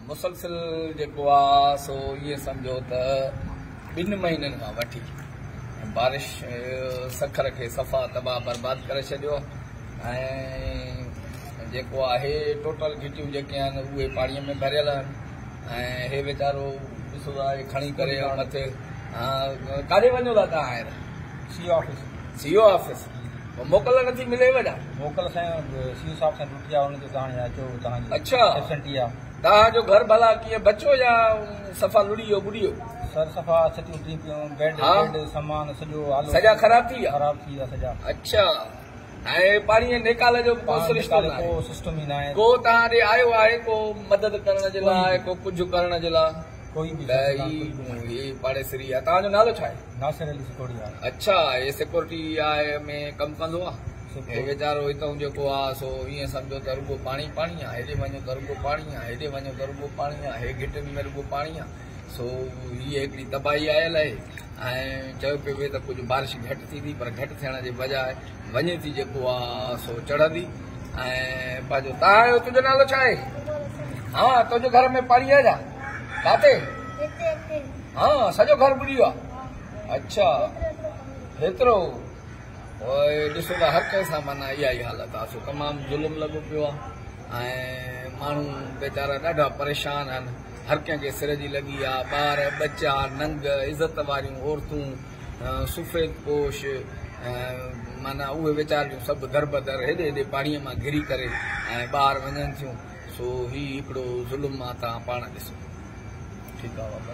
مسلسل جيڪو آ سو ائين سمجهو ته ٻن مهينن کان وٺي بارش سکر کي صفا تباهه برباد ڪري ڇڏيو ۽ جيڪو آهي ٽوٽل گهٽيون جيڪي آهن اهي پاڻي ۾ ڀريل آهن ۽ هي ويچارو ڏسو ٿا کڻي ڪري مٿي ڪاڏي وڃو ٿا تان آهر سيو آفيس سيو آفيس موڪل نٿي ملي وڏا موڪل سائين سيو صاحب سان اڇا ڏاها جو گهر ڀلا ڪيئن بچو يا صفا لڙي ويو ٻڏي ويو سڄا خراب ٿي ويا اڇا ۽ پاڻي ۽ نيڪال جو به ڪو سرشتو ناهي ڪو توهان ڏي آيو آهي ڪو مدد ڪرڻ جي لاء ڪو ڪجهه ڪرڻ جي لاء. ڏهري جون هي پاڙيسري آهي توهان جو نالو ڇا آهي ناصر علي سکوڙيا اڇا هي سيڪورٽي آء ۾ ڪم ڪندو آهي هي ويچارو هتئون جيڪو آهي سو ائين سمجهو ته رڳو پاڻي پاڻي آهي هيڏي وڃو ته رڳو پاڻي آهي هيڏي وڃو ته رڳو پاڻي آهي هي گهٽين ۾ رڳو پاڻي آهي سو هي هڪڙي تباهي آيل آهي ۽ چيو پيو ويو ته ڪجهه بارش گهٽ ٿيندي پر گهٽ ٿيڻ جي بجاء وڃي ٿي جيڪو آ سو چڙهندي ۽ پنهنجو تاهايو تنهنجو نالو ڇا آهي ها تنهنجو گهر ۾ پاڻي آهي ڇا ڪاتي ها سڄو گهر ٻڏي ويو آهي اڇا هيترو ڏسو ته هر ڪنهن سان مانا اها ئي حالت آهي سو تمام ظلم لڳو پيو آهي ۽ ماڻهو ويچارا ڏاڍا پريشان آهن هر ڪنهن کي سر جي لڳي آهي ٻار ٻچا ننگ عزت واريون عورتون سفيد پوش معنيٰ اهي ويچاريون سڀ دربدر هيڏي هيڏي پاڻيء مان گهري ڪري ۽ ٻاهر وڃن ٿيون، سو هي هڪڙو ظلم مان تان پاڻ ڏسو. ٺيڪ آ.